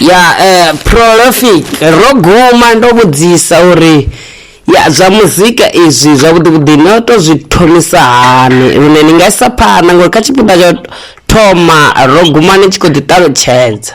ya eh, prolific ro guma ndo vhudzisa uri ya zwa muzika izwi zwavhuḓivhuḓi no to zwi thomisa hani lune ni nga isa phanḓa ngori kha tshifhinga tsho thoma ro guma ni tshi khou ḓiṱalutshedza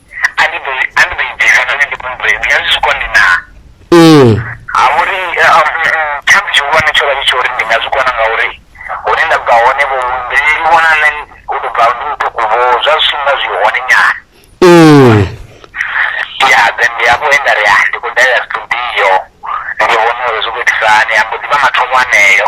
a ndi ḓo i- a ndi ḓo i bvisa nahone ndi kone u tou i vhea zwi zwikoni naa ee ha vha uri eh, ah, mm, mm, tshithu tshihulwane tsho vha tshi tsha uri ndi nga zwi kona ngauri hune nda bva hone vho mbileli vhona nṋe u tou bva ndi muṱuku vho zwa zwi nga zwi hone nyana ee ya then ndi hafho he nda ri ah, ndi khou dalela studio ndi vhona uri zwi khou itisa hani ambo ḓivha mathomo aneyo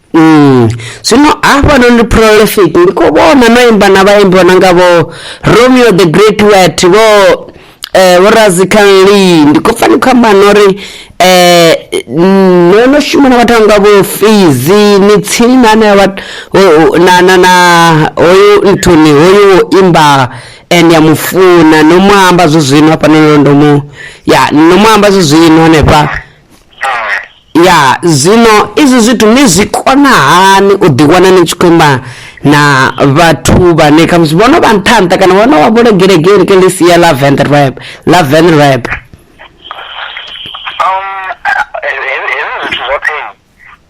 Mm. Zwino hafhanoni ndi prolific ndi khou vhona no imba na vhaimbi vho no nga vho Romeo the Great Wet vho eh vho Razikan Lee ndi khou pfa ni khou amba no ri eh no no shuma na vhathu vha nga vho Fizi ni tsini na na vhat- ho- ho- na na na hoyu Anthony hoyu wo imba and ya mufuna no mu amba zwi zwino hafhanoni ndo mu ya no mu amba zwi zwino hanefha Ya zwino izwi zwithu ni zwi kona hani u ḓi wana ni tshi khou amba na vhathu vhane khamusi vhono vha nṱha nṱha kana vhono vha bolo gelegele ke ḽi sia ḽa venrep ḽa venrep um hezwi zwithu zwoṱhe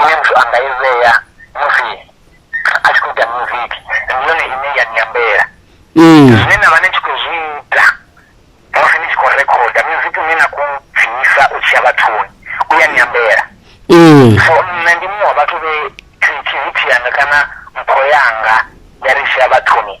ine muthu a nga i vhea musi a tshi khou ita music ndi yone ine ya nyambela mm. zwine na vha ni tshi khou zwi ita musi ni tshi khou rekhoda music une na khou bvisa u tshiya vhathuni u ya nyambela mm. so nṋe ndi muṅwe wa vhathu vhe creativity yanga kana mpho yanga ya ri tshiya vhathuni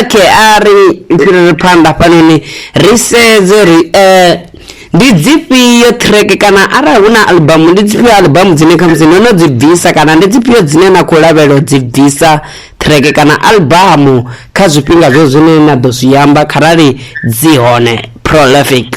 okay a ri fhiriri phanḓa hafhanoni ri sedze uri um ndi dzifhio track kana arali hu na albamu ndi dzifhio albamu dzine khamusi no no dzi bvisa kana ndi dzifhio dzine na khou lavhelela u dzi bvisa track kana albamu kha zwifhinga zwo zwine na ḓo zwi amba kharali dzi hone prolific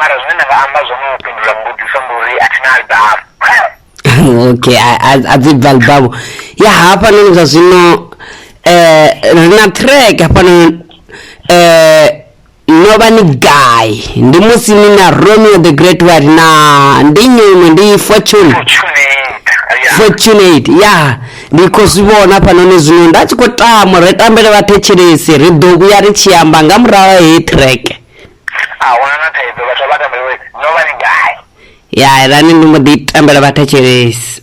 mara zwine nda nga amba zwone u fhindula mbudziso ndi uri a thi na albamu okay a- a- a dzi bva albamu ya hafhanoni zwa zwino eh, ri na track hafhanoni eh, no vha ni gai ndi musi ni na romeo the great white na ndi nyimwe ndi fortune fortunate ya ndi khou zwi vhona hafhanoni zwino nda tshi khou tama ri tambele vhathetshelesi ri ḓo vhuya ri tshi amba nga murahu ha heyi track Ya rani ndi mbo ḓi tambela vhathetshelesi.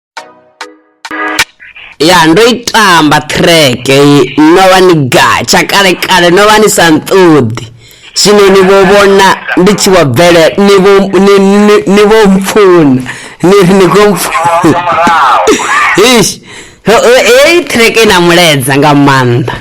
ya ndo i tamba track no vha ni gatsha kale kale no vha ni sa nṱoḓi zwino ni vho vhona ndi tshi vho bvele ni vho ni ni ni vho mpfuna ni ri ni khou mpfuna ish Ho- ho- heyi track i na muleza nga maanḓa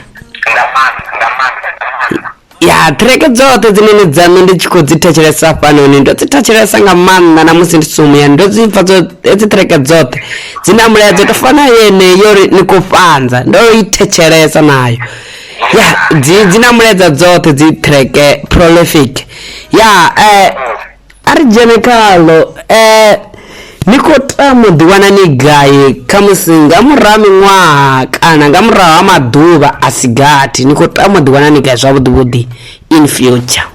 nga maanḓa nga maanḓa nga maanḓa ya ṱhireke dzoṱhe dzine ni dzaṋu ndi tshi khou dzi thetshelesa hafhanoni ndo dzi thetshelesa nga maanḓa na musi ndi sumuyani ndo dzi pfa hedzi ṱhireke dzoṱhe dzi na mulaedza to fana yeneyo ri ni khou fhanza ndo i thetshelesa nayo ya dzi dzi na mulaedza dzoṱhe dzi ṱhireke prolific ya um A ri dzhene khaḽo. Ee, ni khou tama u ḓiwana ni gai, khamusi nga murahu ha miṅwaha kana nga murahu ha maḓuvha a si gathi? Ni khou tama u ḓiwana ni gai zwavhuḓi-vhuḓi in future?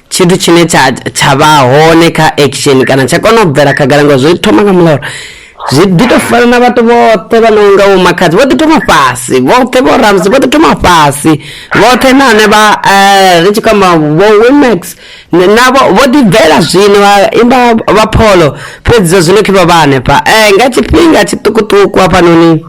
tshithu tshine tsha tsha vha hone kha action kana tsha kona u bvela khagala ngo zwi thoma nga muloro zwi ḓi to fana na vhathu vhoṱhe vha no nga vhomakhadzi vho ḓi thoma fhasi vhoṱhe vho ramsi vho ḓi thoma fhasi vhoṱhe na hone vha eh, ri tshi kwamba vho wimax navho vho ḓi bvela zwino vha imba vha pholo fhedzi zwa zwino khe vha vha hanefha um nga tshifhinga tshiṱukuṱuku hafhanoni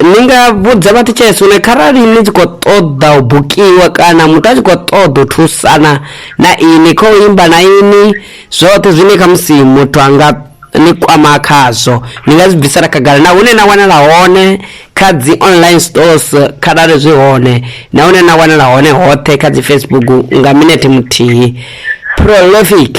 Ni nga vhudza vhathetshelesi uri kharali ni tshi khou ṱoḓa u bukiwa kana muthu a tshi khou ṱoḓa u thusana na ini kha u imba na ini zwoṱhe zwine khamusi muthu a nga ni kwama khazwo ni nga zwi bvisela khagala na hune na wanala hone kha dzi online stores kharali zwi hone na hune na wanala hone hoṱhe kha dzi Facebook nga minete muthihi prolific.